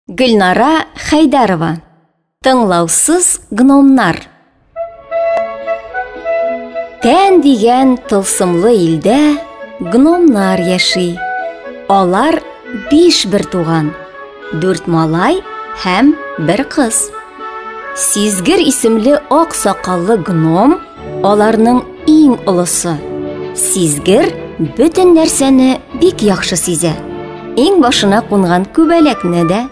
Гөлнара Хәйдәрова Тыңлаусыз гномнар Тән дигән тылсымлы илдә гномнар яши. Алар биш бер туган, дүрт малай һәм бер кыз. Сизгер исемле ак сакаллы гном аларның иң олысы. Сизгер бөтен нәрсәне бик яхшы сизә. Иң башына кунган күбәләкне дә,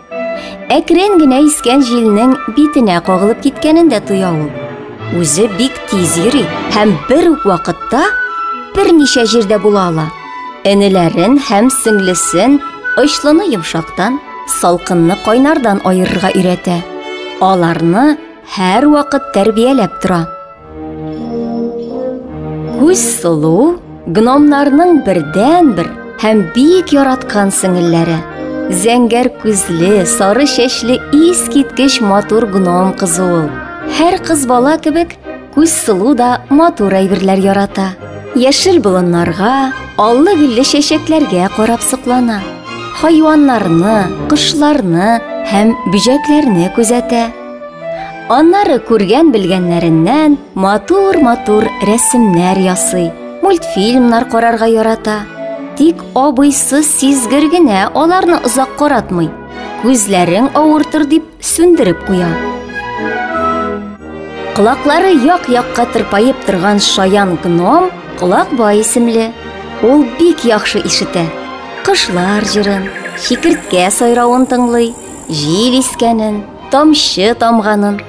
әкрен генә искән җилнең битенә кагылып киткәнен дә тоя ул. Үзе бик тиз йөри һәм бер үк вакытта берничә җирдә була ала. Энеләрен һәм сеңлесен очлыны йомшактан, салкынны кайнардан аерырга өйрәтә. Аларны һәрвакыт тәрбияләп тора. Күз сылу гномнарның бердән-бер һәм бик яраткан сеңелләре. Зәңгәр күзле, сары чәчле ис киткеч матур гном кызы ул. Һәр кыз бала кебек күз сылу да матур әйберләр ярата. Яшел болыннарга, аллы гөлле чәчәкләргә карап соклана. Хайваннарны, кошларны һәм бөҗәкләрне күзәтә. Аннары күргән-белгәннәреннән матур-матур рәсемнәр ясый, мультфильмнар карарга ярата. Тик абыйсы сизгер генә аларны озак каратмый. Күзләрең авыртыр дип сүндереп куя. Колаклары як-якка тырпаеп торган шаян гном Колакбай исемле. Ул бик яхшы ишетә. Кышлар җырын, шикерткә сайравын тыңлый, җил искәнен, тамчы тамганын,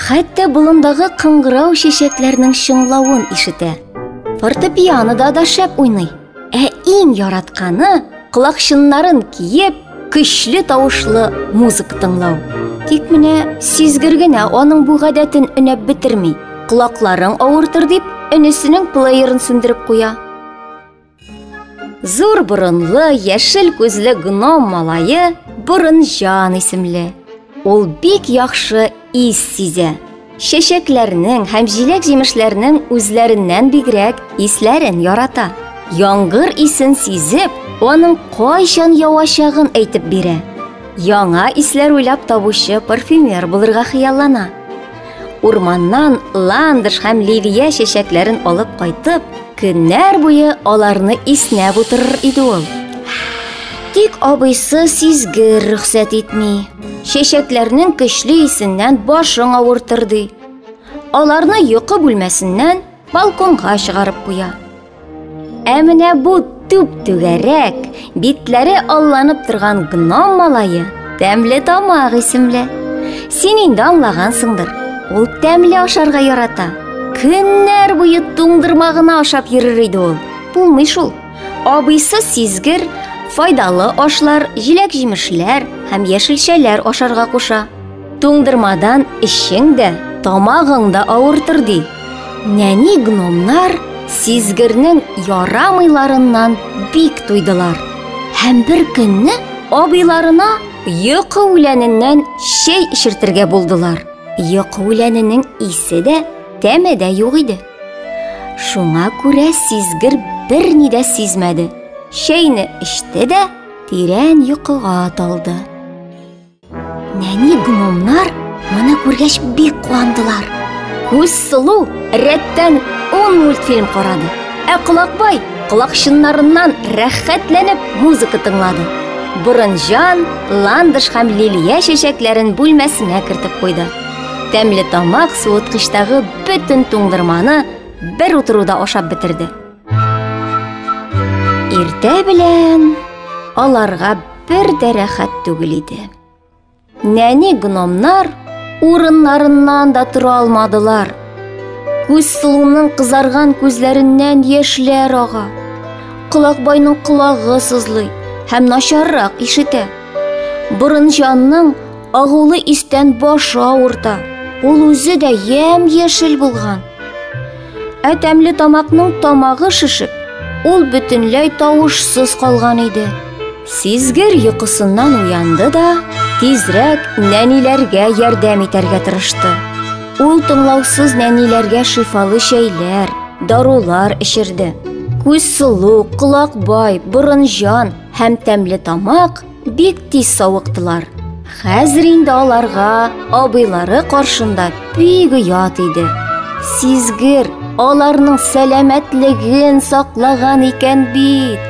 хәтта болындагы кыңгырау чәчәкләрнең чыңлавын ишетә. Фортепианода да шәп уйный. Ә иң яратканы колакчыннарын киеп, көчле тавышлы музыка тыңлау. Тик менә сизгер генә аның бу гадәтен өнәп бетерми. Колакларың авыртыр дип, энесенең плеерын сүндереп куя. Зур борынлы, яшел күзле гном малае Борынҗан исемле. Ул бик яхшы ис сизә. Чәчәкләрнең һәм җиләк-җимешләрнең үзләреннән бигрәк исләрен ярата. Яңгыр исен сизеп, аның кайчан явачагын әйтеп бирә. Яңа исләр уйлап табучы парфюмер булырга хыяллана. Урманнан ландыш һәм ливия чәчәкләрен алып кайтып, көннәр буе аларны иснәп утырыр иде ул. Тик абыйсы сизгер рөхсәт итми. Чәчәкләрнең көчле исеннән башың авыртыр ди. Аларны йокы бүлмәсеннән балконга чыгарып куя. Ә менә бу түп-түгәрәк, битләре алланып торган гном малае тәмле тамак исемле. Син инде аңлагансыңдыр. Ул тәмле ашарга ярата. Көннәр буе туңдырма гына ашап йөрер иде ул. Булмый шул. Абыйсы сизгер, файдалы ашлар, җиләк-җимешләр һәм яшелчәләр ашарга куша. Туңдырмадан эчең дә, тамагың да авыртыр ди. Нәни гномнар сизгернең ярамыйларыннан бик туйдылар. Һәм бер көнне абыйларына йокы үләненнән чәй эчертергә булдылар. Йокы үләненең исе дә, тәме дә юк иде. Шуңа күрә сизгер берни дә сизмәде. Чәйне эчте дә тирән йокыга талды. Нәни гномнар моны күргәч бик куандылар. Күз сылу рәттән 10 мультфильм карады. Ә Колакбай колакчыннарыннан рәхәтләнеп музыка тыңлады. Борынҗан, ландыш һәм лилия чәчәкләрен бүлмәсенә кертеп куйды. Тәмле тамак суыткычтагы бөтен туңдырманы бер утыруда ашап бетерде. Иртә белән аларга бер дә рәхәт түгел иде. Нәни гномнар урыннарыннан да тора алмадылар. Күз сылуның кызарган күзләреннән яшьләр ага. Колакбайның колагы сызлый һәм начаррак ишетә. Борынҗанның агулы истән башы авырта. Ул үзе дә ямь-яшел булган. Ә тәмле тамакның тамагы шешеп, ул бөтенләй тавышсыз калган иде. Сизгер йокысыннан уянды да, тизрәк нәниләргә ярдәм итәргә тырышты. Ул тыңлаусыз нәниләргә шифалы чәйләр, дарулар эчерде. Күз сылу, колак бай, борын җан һәм тәмле тамак Бик тиз савыктылар. Хәзер инде аларга абыйлары каршында бик оят иде. Сизгер аларның сәламәтлеген саклаган икән бит.